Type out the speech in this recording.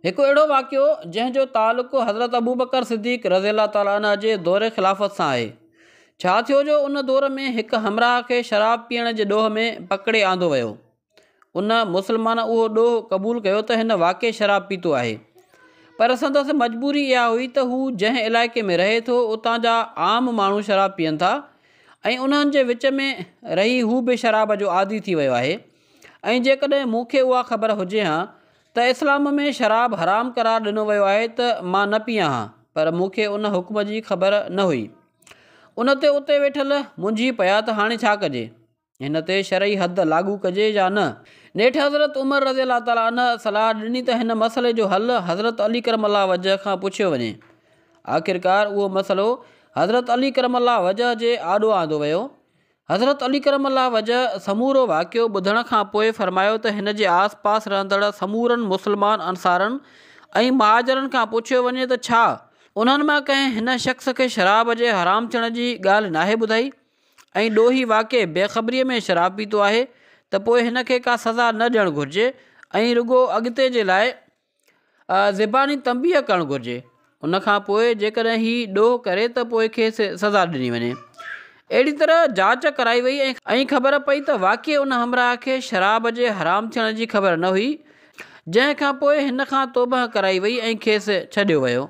هڪ اهڙو واقعو جنهن جو تعلق حضرت ابوبڪر صديق رضي الله تعالٰي عنه جي دور خلافت سان آهي. ڇا ٿيو جو ان دور ۾ هڪ همراهه کي شراب پيئڻ جي ڏوهه ۾ پڪڙي آندو ويو. ان، مسلمان، اهو ڏوهه قبول ڪيو ته هن واقعي شراب پيتو آهي. پر سندس مجبوري اها هئي ته هو جنهن علائقي ۾ رهي ٿو اتان جا عام ماڻهو شراب پيئن ٿا ۽ انهن جي وچ ۾ رهي هو به شراب جو عادي ٿي ويو آهي ۽ جيڪڏهن مون کي اها خبر هجي ها ته اسلام ۾ شراب حرام قرار ڏنو ويو آهي ته مان نه پيان ها پر مون کي ان حڪم جي خبر نه هئي. ان تي اتي ويٺل منجهي پيا ته هاڻي ڇا ڪجي؟ هن تي شرعي حد لاڳو ڪجي يا نه؟ نيٺ حضرت عمر رضي الله تعالٰي عنه صلاح ڏني ته هن مسئلي جو حل حضرت علي ڪرم الله وجهه کان پڇيو وڃي. آخرڪار اهو مسئلو حضرت علي ڪرم الله وجهه جي آڏو آندو ويو حضرت علي ڪرم الله وجهه سمورو واقعو ٻڌڻ کان پوء فرمايو ته هن جي آس پاس رهندڙ سمورن مسلمان انصارن ۽ مهاجرن کان پڇيو وڃي ته ڇا انهن مان ڪنهن هن شخص کي شراب جي حرام ٿيڻ جي ڳالهه ناهي ٻڌائي ۽ ڏوهي واقعي بي خبريء ۾ شراب پيتو آهي ته پوء هن کي ڪا سزا نه ڏيڻ گهرجي ۽ رڳو اڳتي جي لاء زباني تنبيهه ڪرڻ گهرجي ان کان پوء جيڪڏهن هي ڏوهه ڪري ته پوء کيس سزا ڏني وڃي اهڙي طرح جاچ ڪرائي وئي ۽ خبر پئي ته واقعي ان همراهه کي شراب جي حرام ٿيڻ جي خبر نه هئي جنهن کان پوء هن کان توبهه ڪرائي وئي ۽ کيس ڇڏيو ويو.